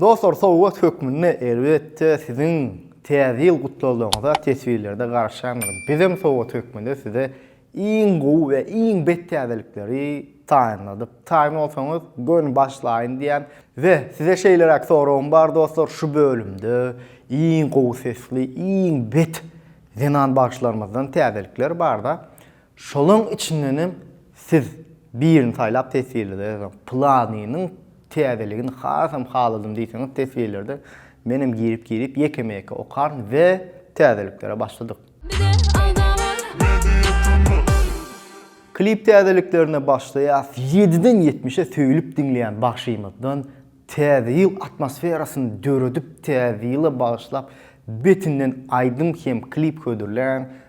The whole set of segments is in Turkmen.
Dostlar sowgat hökmünde elbetde siziň Täze ýyl gutlaglaryňyza teswirlerde garaşýandyr. Bizem sowgat hökmünde size iň gowy we iň bet täzelikleri taýynladyk. Taýyn bolsaňyz göni başlaýyn diýýän we size şeýleräk soragym bar dostlar şu bölümde iň gowy sesli iň bet zenan bagşylarymyzdan täzelikler barda Şolaň içindenem siz birini saýlap teswirlede ýazyň. Pylanynyň täzeligini hasam haladym diýseňiz teswirlerde menem girip girip ýekeme ýeke okaryn we täzeliklere başladyk. Klip täzeliklerine başlaýas ýediden ýetmişe söýlüp diňleýän bagşymyzdan täze ýyl atmosferasyny döredip täze ýyla bagyşlap betinden aýdym hem klip hödürläň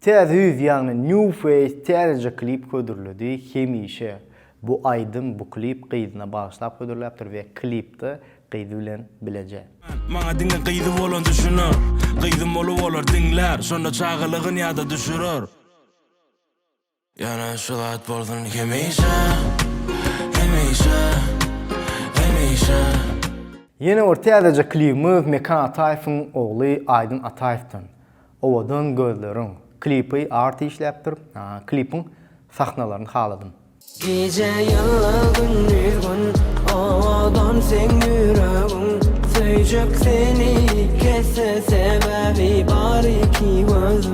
Täze ýüz ýagny New Face täzeje klip hödürledi, hemişe bu aýdym, bu klip gyzyna bagyşlap hödürläpdir we klipde gyzy bilen bileje. Maňa diňe gyzy bolan düşüner Gyzym bolup olar diňlär Şonda çagalygyn ýada düşürer. Ýöne şu zat bolsun hemişe, hemişe, hemişe. Ýene bir täzeje klibimiz Mekan Ataýewiň ogly Aýdyn Ataýewden Owadan gözleriň klipi Arty işläpdir. Klipiň sahnalaryny haladym. Gije ýylla gündiz gün Owadan seň ýüregiň Söýjek seni kesse Sebäbi bar iki gözüň.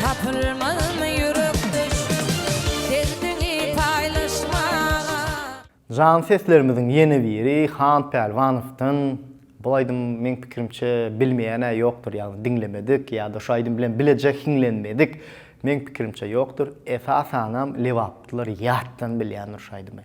Tapylmazmy ýürekdeş, derdini paýlaşmaga? Jan seslerimiziň ýene biri Han Pälwanowdan. Bul aýdym meň pikirimçe bilmeýän-ä ýokdur, ýagny diňlemedik ýa-da şu aýdym bilen bileje hiňlenmedik meň pikirimçe ýokdur. Esasanam lebaplylar ýatdan bilýändir şu aýdymy.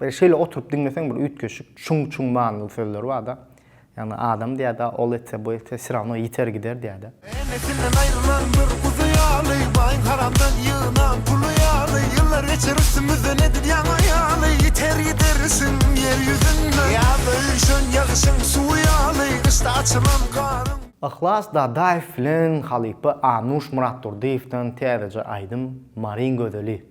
Böyle şeýle oturyp diňleseň bir üýtgeşik çuň çuň manyly sözler barda. Ýagny adam diýärde ol etse bu etse syrawno ýiter gider diýärde. Enesinden aýrylan bir guzy ýaly Baýyň haramdan ýygnan puly ýaly Ýyllar geçer üstümizden edip ýaňa ýaly Ýiter gidersiň ýer ýüzünden Ýazda üýşen ýagyşyň suwy ýaly Gyşda açylan garyň Yhlas Dadaýew bilen halypa Anuş Myratdurdyýewden täzeje aýdym Maryň gözeli.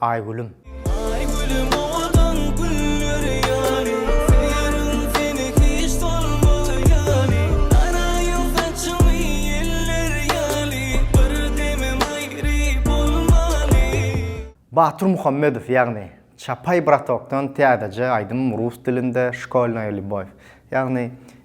Aýgülüm. Aýgülüm owadan güller ýaly, Seýerin seni hiç solmaz ýaly, Garaýyň saçyňy ýeller ýaly, Bir demem aýry bolmaly. Batyr Muhammedow ýagny Çapaý bratokdan täzeje aýdym rus dilinde Şkolnaýa lýubow ýagny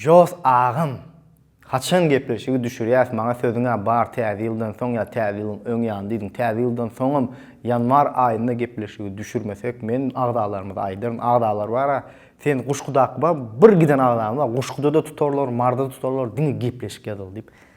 Jos agam! Haçan gepleşigi düşürýäs maňa sözüňä bar täze ýyldan soň ýa täze ýylyň öň ýany diýdiň täze ýyldan soňam ýanwar aýynda gepleşigi düşürmesek men agzalarymyza aýdaryn agzalar bara sen guşgudaky bar bir giden agzamyz bar guşguda-da tutarlar marda tutarlar diňe gepleşik ýazal diýip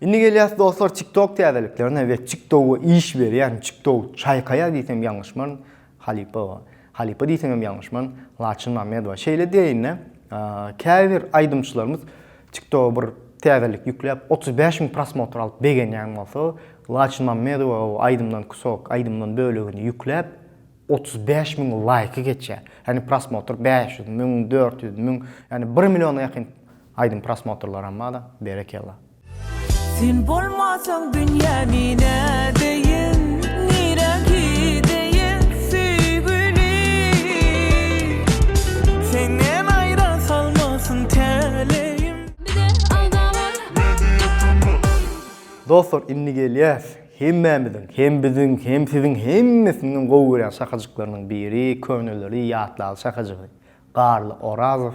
Indi gelýäs dostlar TikTok täzeliklerine we TikToga iş berýän TikTok çaýkaýar diýsem ýalňyşmaryn Halypowa. Halypa diýsemem ýalňyşmaryn Laçyn Mämmedowa. Şeýle diýeýin-de, käbir aýdymçylarymyz TikToga bir täzelik ýükläp, otuz bäş müň prosmotr alyp begenýän bolsa, Laçyn Mämmedowa o aýdymdan kusok, aýdymdan bölegini ýükläp, otuz bäş müň laýky geçýär. Ýagny prosmotr bäş ýüz müň, dört ýüz müň, ýagny bir milliona ýakyn Aýdym prosmotrlaram bada berekella. Sen bolmasaň dünýä nine deýin nirä gideýin söýgülim senden aýra salmasyn täleýim. Bize alda bar Media Tunnel. Dostlar indi gelýäs hemmämiziň hem biziň hem siziň hemmesiniň hem gowy görýän şakajyklarynyň biri köneleri ýatlaly şakajygy Garly Orazow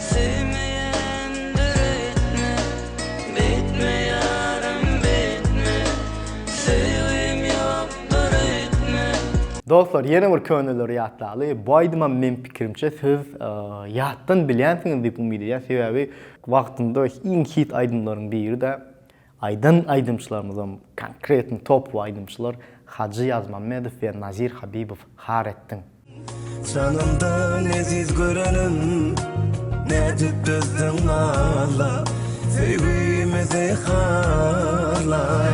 Söýmeýändir etme betme ýarym betme söýgim ýokdur öýtme. Dostlar ýene bir köneleri ýatlaly. Bu aýdymam meň pikirimçe siz ýatdan bilýänsiňiz diýip umyt edýän sebäbi wagtynda iň hit aýdymlaryň biri-de. Aýdan aýdymçylarymyzam konkretny topowy aýdymçylar Hajy Ýazmammedow we Nazir Habibow Har etdiň. Janymdan eziz görenim Nädip dözdüň Alla Söýgimizi harlar.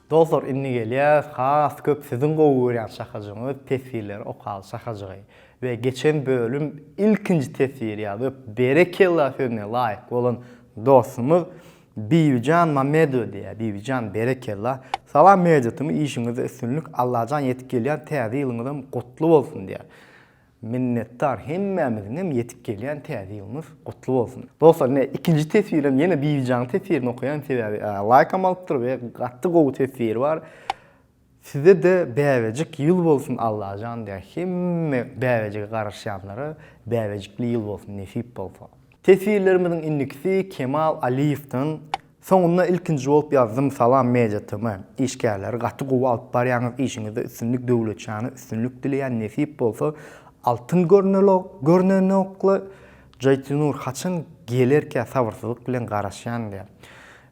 Dostlar indi gelýäs has köp siziň gowy görýän şakajygyňyz teswirleri okaly şakajygy we geçen bölüm ilkinji teswiri ýazyp berekella sözüne laýyk bolan dostumyz Bibijan Mamedowa diýýär Bibijan berekella Salam Media Tm işiňizde üstünlik Allajan ýetip gelýän täze ýylyňyzam gutly bolsun diýýär Minnetdar hemmämiziňem ýetip gelýän täze ýylymyz gutly bolsun. Dostlar ine ikinji teswirem ýene Bibijanyň teswirini okaýan sebäbi laýkam alypdyr we gaty gowy teswiri bar. Sizede bäbejik ýyl bolsun Allajan diýä hemme bäbejige garaşýanlara bäbejikli ýyl bolsun nesip bolsa. Teswirlerimiziň indikisi Kemal Aliýewden Soňunda ilkinji bolup ýazdym Salam Media TM işgärleri gaty gowy alyp barýaňyz işiňizde üstünlik Döwletjana üstünlik dileýän nesip bolsa Altyn görnelok görnenokly Jaýtynur haçan gelerkä sabyrsyzlyk bilen garaşýan diýýär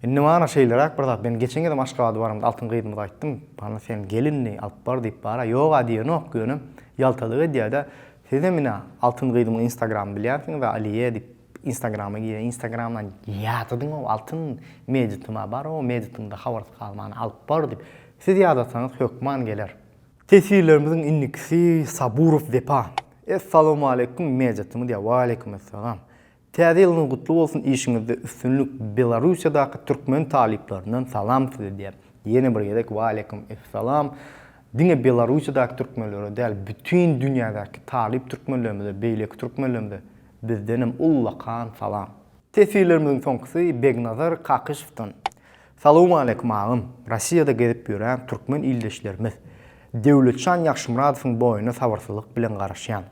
Indi mana şeýleräk bir zat men geçen gezem Aşgabada baramda Altyn gyzymyza aýtdym Hany sen gel indi alyp bar diýip bara ýoga diýenok ýöne ýaltalyk edýädä Sizem ine Altyn gyzymyň instagramyny bilýänsiňiz Aliýe diýip Instagrama girýän instagramdan ýazydyňow altyn medityma barow medityňda habarsyz galman alyp bar diýip siz ýazasaňyz hökman geler. Teswirlerimiziň indikisi Saburow Wepa. Essalowmaleýkum meditymy diýýär Waleýkumessalam. Täze ýylyňyz gutly bolsun işiňizde üstünlik Belarussiýadaky türkmen talyplaryndan salam size diýýär. Ýene bir gezek Waleýkum essalam. Diňe Belarussiýadaky türkmenlere däl bütin dünýädäki talyp türkmenlerimize beýleki türkmenlerimize bizdenem ullakan salam. Teswirlerimiziň soňkusy Begnazar Kakyşowdan. Salowmaleýkum agam, Rossiýada gezip ýörän türkmen ildeşlerimiz Döwletjan Ýagşymyradowyň boýuna sabyrsyzlyk bilen garaşýan.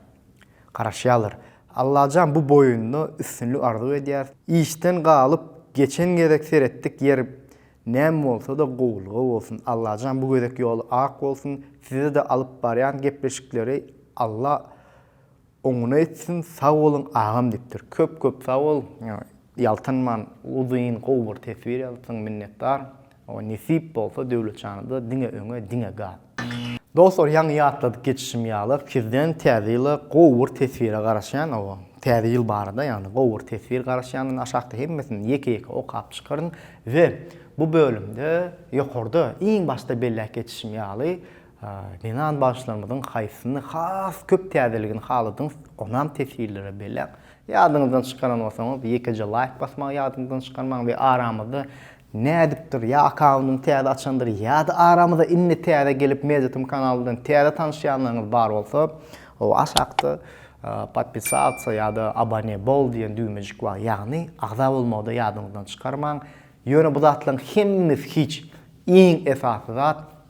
Garaşýarlar. Allajan bu boýunda üstünlik arzuw edýäris. Işden galyp geçen gezek seretdik ýer näme bolsada gowulyga bolsun. Allajan bu gezek ýoly ak bolsun. Sizede alyp barýan gepleşikleri Alla Oňuna etsin sag boluň agam dipdir köp köp sag bol ýaltanman uzyn gowy bir teswir ýazypsyň minnetdar o nesip bolsa Döwletjanyda diňe öňe diňe gaz. Dostlar ýaňy ýatladyp geçişim ýaly sizden täze ýyla gowy bir teswire garaşýan o täze ýyl barada ýagny gowy bir teswir garaşýan aşakda hemmesini ýeke ýeke okap çykaryn we bu bölümde ýokarda iň başda belläp geçişim ýaly Zenan bagşylarymyzyň haýsysyny has köp täzeligini haladyňyz, onam teswirlere belläň. Ýadyňyzdan çykaran bolsaňyz, ýekeje laýk basmagy ýadyňyzdan çykarmaň we aramyzda nädipdir, ýa akkauntyny täze açandyr, ýa-da aramyza indi täze gelip Mediatm kanalyndan täze tanyşýanlaryňyz bar bolsa, o aşakda Podpisatsa ýa-da Abone bol diýen düwmejik bar, ýagny agza bolmagy-da ýadyňyzdan çykarmaň. Ýöne bu zatlaryň hemmesi hiç, iň esasy zat,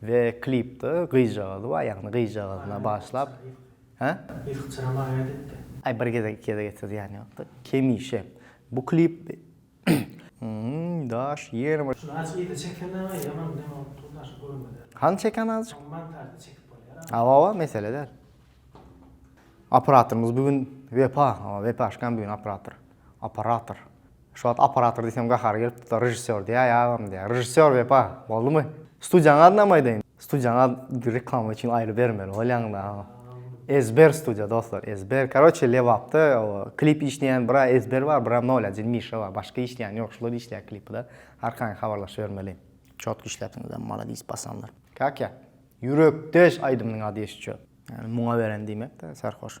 We klipde gyzjagazy bar ýagny gyzjagazyna bagyşlap hä? Yzky çyram argaýt etdi. Aý bir gezek iki gezek etse zyýany ýokda. Hemişe. Bu klip Hmmm daş ýene bir. Şuny aç yza çekene ýaman näme bolup dur daşy görmede. Hany çekeni azjyk. Şony montažda çekip bolýar a. Hawa hawa mesele däl. Operatorymyz bu gün Wepa, Wepaşkam bu gün operator. Operator. Şu wagt operator diýsem gahary gelip dursa režissýor diýäý agam diýýär. Režissýor Wepa, boldumy? Studiýaň adyny hem aýdaýyn. Studiýaň adyny reklama üçin aýry bermeli bolýaň da. Ezber studiýa dostlar, ezber. Karoçe Lebapda klip işleýän bir ezber bar, bir nolajil Mişa bar. Başga işleýän ýok, şular işleýär klipde. Arkaýyn habarlaşybermeli. Çotky işläpsiňizem maladis bassanlar. Kakýa. Ýürekdeş aýdymynyň ady ýeşitje. Ýani muňa beren diýmek-dä, serhoş.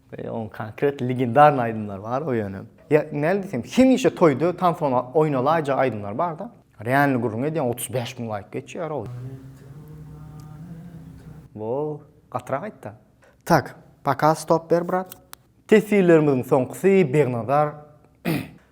Onuň konkret legendarny aýdymlary bar o ýöne. Ýa näme diýsem, hemişe toýda tansona oýnalaýjak aýdymlar barda. Realny gürrüň edýän otuz bäş müň laýk geçýär ow. Bo, gatyrak aýtda. Tak, paka stop ber brat. Teswirlerimiziň soňkusy Begnazar